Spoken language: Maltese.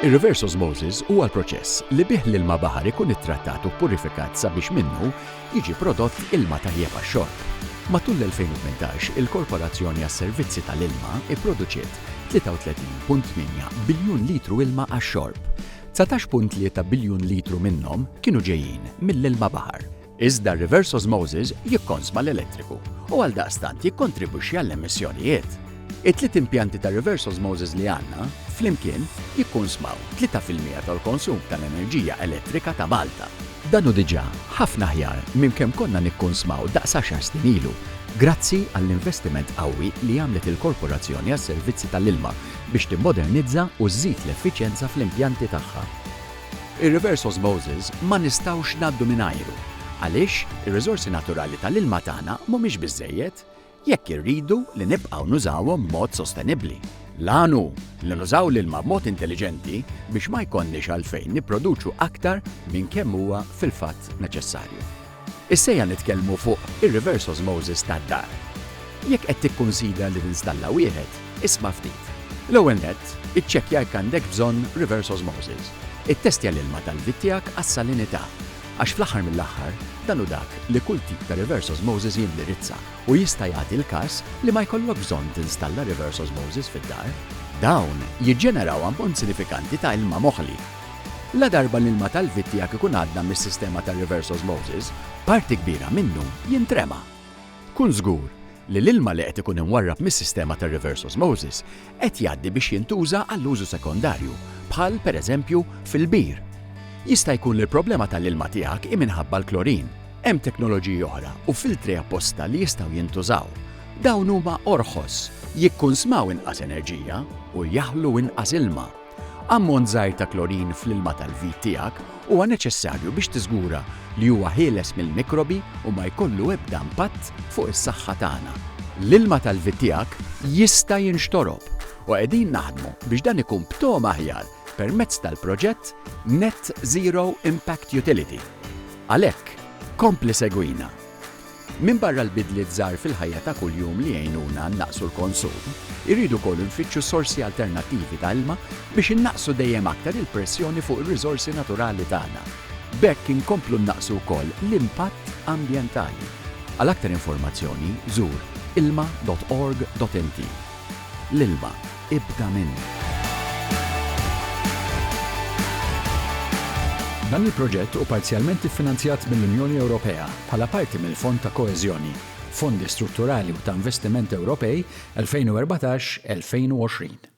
Ir-reverse osmosis huwa l-proċess li bih l-ilma baħar ikun ittrattat u ppurifikat sabiex minnu jiġi prodott ilma tajjeb għax-xorb. Matul l-2018, il-Korporazzjoni għas-Servizzi tal-Ilma pproduċiet 33.8 biljun litru ilma għax-xorb. 19.3 biljun litru minnhom kienu ġejjin mill-ilma baħar. Iżda r-reverse osmosis jikkonsma l-elettriku u għaldaqstant jikkontribwixxi għall-emissjonijiet. It-tliet impjanti ta' reverse osmosis li għandna, flimkien, jikkunsmaw tlieta fil-mija tal-konsum tal-enerġija elettrika ta' Malta. Dan hu diġà ħafna aħjar minn kemm konna nikkunsmaw daqs għaxar snin ilu, grazzi għall-investiment qawwi li għamlet il-Korporazzjoni għas-Servizzi tal-Ilma biex timmodernizza u żżid l-effiċjenza fl-impjanti tagħha. Ir-reverse osmosis ma nistgħux ngħaddu mingħajru għaliex ir-riżorsi naturali tal-ilma tagħna mhumiex biżżejjed jekk irridu li nibqgħu nużawhom b'mod sostenibbli. L-għan hu li nużaw l-ilma b'mod intelliġenti biex ma jkollniex għalfejn nipproduċu aktar minn kemm huwa fil-fatt neċessarju. Issejja nitkellmu fuq ir-reverse osmosis tad-dar. Jekk qed tikkunsidra li tinstalla wieħed, isma' ftit. L-ewwel nett, iċċekkja jekk għandekx bżonn reverse osmosis. Ittestja l-ilma tal-bit tiegħek għas-salinità, għax fl-aħħar mill-aħħar, dan hu dak li kull tip ta' reverse osmosis jindirizza u jista' jagħti l-każ li ma jkollokx bżonn tinstalla reverse osmosis fid-dar. Dawn jiġġeneraw ammont sinifikanti ta' ilma moħli Ladarba l-ilma tal-vitt tiegħek ikun għadda mis-sistema ta' reverse osmosis, parti kbira minnu jintrema. Kun żgur li l-ilma li qed ikun imwarrab mis-sistema ta' reverse osmosis qed jgħaddi biex jintuża għall-użu sekondarju, bħal, pereżempju, fil-bir. Jista' jkun li l-problema tal-ilma tiegħek hi minħabba l-klorin. Hemm teknoloġiji oħra u filtri apposta li jistgħu jintużaw. Dawn huma orħos, jikkunsmaw inqas enerġija u jaħlu inqas ilma. Ammont żgħir ta' klorin fl-ilma tal-vit tiegħek huwa neċessarju biex tiżgura li huwa ħieles mill-mikrobi u ma jkollu ebda impatt fuq is-saħħa tagħna. L-ilma tal-vit tiegħek jista' jinxtorob u qegħdin naħdmu biex dan ikun b'togħma aħjar permezz tal-proġett Net Zero Impact Utility. Għalhekk, kompli segwina! Minbarra l-bidliet żgħar fil-ħajja ta' kuljum li jgħinuna nnaqqsu l-konsum, irridu wkoll infittxu sorsi alternattivi ta' ilma biex innaqqsu dejjem aktar il-pressjoni fuq ir-riżorsi naturali tagħna. B'hekk inkomplu nnaqqsu wkoll l-impatt ambjentali. Għal aktar informazzjoni, żur ilma.org.mt. L-ilma, ibda minn. Dan il-proġett hu parzjalment iffinanzjat mill-Unjoni Ewropea bħala parti mill-Fond ta' Koeżjoni, Fondi Strutturali u ta' Investiment Ewropej 2014-2020.